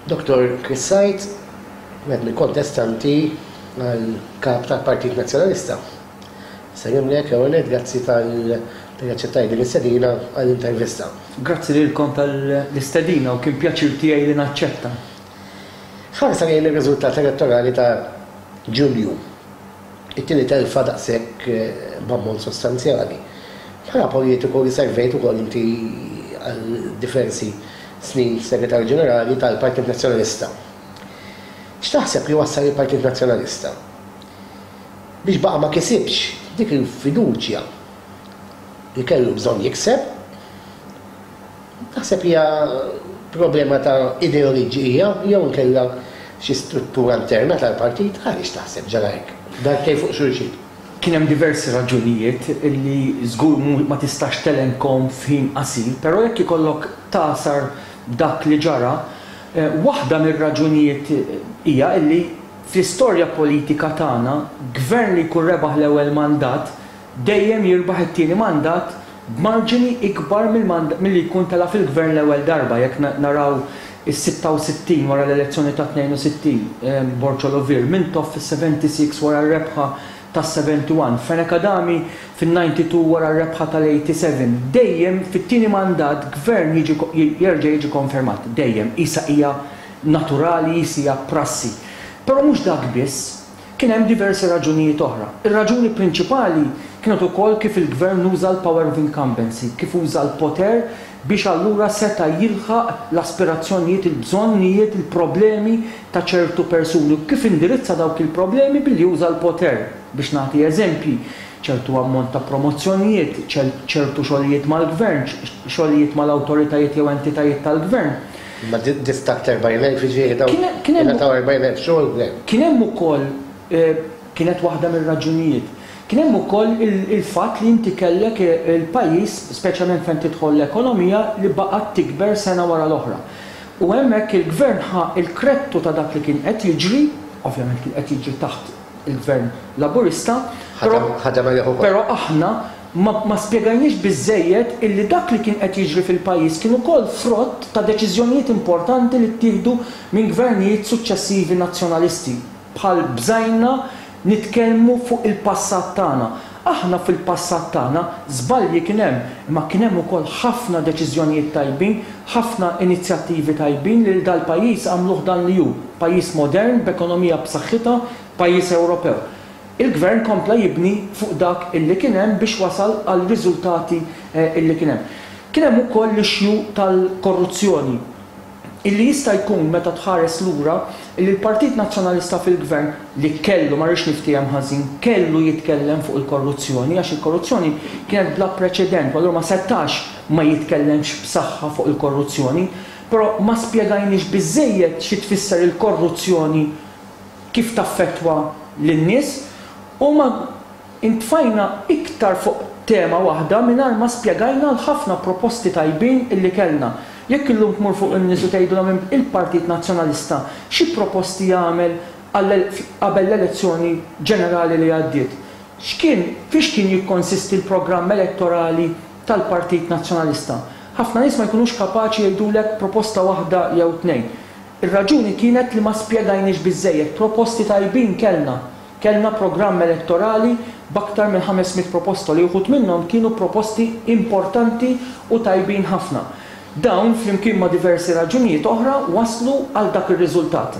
Dottor Chris Said, wieħed mill-kontestanti għal kap tal-Partit Nazzjonalista. Salimlek, għonet, grazzi tal-għacċettaj din l-istedina għall-intervista. Grazzi li l-kom tal-istedina u kien pjaċir tijaj li naċċetta. Ħarsa lejn il-rizultat elettorali ta' Ġulju. It-tieni telfa daqshekk b'ammont sostanzjali. Bħala politiku li servejt ukoll inti għal diversi snin f'Segretarju Ġenerali tal-Partit Nazzjonalista. X'taħseb li wassal lill-Partit Nazzjonalista biex baqa' ma kisibx dik il-fiduċja li kellu bżonn jikseb? Naħseb li hija problema ta' ideoliġi hija jew inkella xi struttura interna tal-partit għaliex taħseb ġara hekk. Darbtejn fuq xulxin. Kien hemm diversi raġunijiet li żgur mhu ma tistax telenkhom f'ħin qasir, però jekk ikollok tagħsar dak li ġara, waħda mir-raġunijiet hija li fl-istorja politika tagħna, gvern li jkun rebaħ l-ewwel mandat, dejjem jirbaħ it-tieni mandat b'marġini ikbar milli jkun tela' fil-Gvern l-ewwel darba, jekk naraw is-66 wara l-elezzjoni tat-62, Borcol Ovir, Mintoff fis-76 wara r-rebħa tas-71, Fenech Adami fin-92 wara r-rebħa tal-87, dejjem fit-tieni mandat Gvern jerġa' jiġi konfermat, dejjem, qisha hija naturali, qisha hija prassi. Però mhux dak biss. Kien hemm diversi raġunijiet oħra. Ir-raġuni prinċipali kienet ukoll kif il-Gvern uża l-power of incumbency, kif uża l-poter biex allura seta' jilħaq l-aspirazzjonijiet, il-bżonnijiet, il-problemi ta' ċertu persuni u kif indirizza dawk il-problemi billi uża l-poter. Biex nagħti eżempji, ċertu ammont ta' promozzjonijiet, ċertu xogħlijiet mal-Gvern, xogħlijiet mal-awtoritajiet jew entitajiet tal-Gvern. Imma dif taħt l-erbgħin elf jiġifieri dawn ingħataw erbgħin elf xogħol u le? Kien hemm ukoll, kienet waħda mir-raġunijiet, kien hemm ukoll il-fatt li inti kellek il-pajjiż, speċjalment fejn tidħol l-ekonomija, li baqgħet tikber sena wara l-oħra. U hemmhekk il-Gvern ħa l-krettu ta' dak li kien qed jiġri, ovvjament kien qed jiġri taħt il-Gvern Laburista, però aħna, Ma ma spjegajniex biżżejjed illi dak li kien qed jiġri fil-pajjiż kien ukoll frott ta' deċiżjonijiet importanti li ttieħdu minn gvernijiet suċċessivi Nazzjonalisti, bħal bżajna nitkellmu fuq il-passat tagħna. Aħna fil-passat tagħna, żbalji kien hemm, imma kien hemm ukoll ħafna deċiżjonijiet tajbin, ħafna inizjattivi tajbin li dal-pajjiż għamluh dan li hu, pajjiż modern b'ekonomija b'saħħitha, pajjiż Ewropew. Il-Gvern kompla jibni fuq dak li kien hemm biex wasal għar-riżultati li kien hemm. Kien hemm ukoll l-issue tal-korruzzjoni li jista' jkun meta tħares lura li l-Partit Nazzjonalista fil-Gvern li kellu, ma rridx niftiehem ħażin, kellu jitkellem fuq il-korruzzjoni għax il-korruzzjoni kienet bla preċedent u allura ma setax ma jitkellemx b'saħħa fuq il-korruzzjoni. Però ma spjegajniex biżżejjed xi tfisser il-korruzzjoni kif taffettwa lin-nies u ma ntfajna iktar fuq tema waħda mingħajr ma spjegajna l-ħafna proposti tajbin li kellna. Jekk illum tmur fuq in-nies u tgħidilhom il-Partit Nazzjonalista xi proposti għamel qabel l-elezzjoni ġenerali li għaddiet, x'kien, fiex kien jikkonsisti l-programm elettorali tal-Partit Nazzjonalista, ħafna nies ma jkunux kapaċi jgħidulek proposta waħda jew tnejn. Ir-raġuni kienet li ma spjegajniex biżżejjed, proposti tajbin kellna, kellna programm elettorali b'aktar minn ħames mitt proposta li uħud minnhom kienu proposti importanti u tajbin ħafna. Dawn, flimkien ma' diversi raġunijiet oħra, wasslu għal dak ir-riżultat.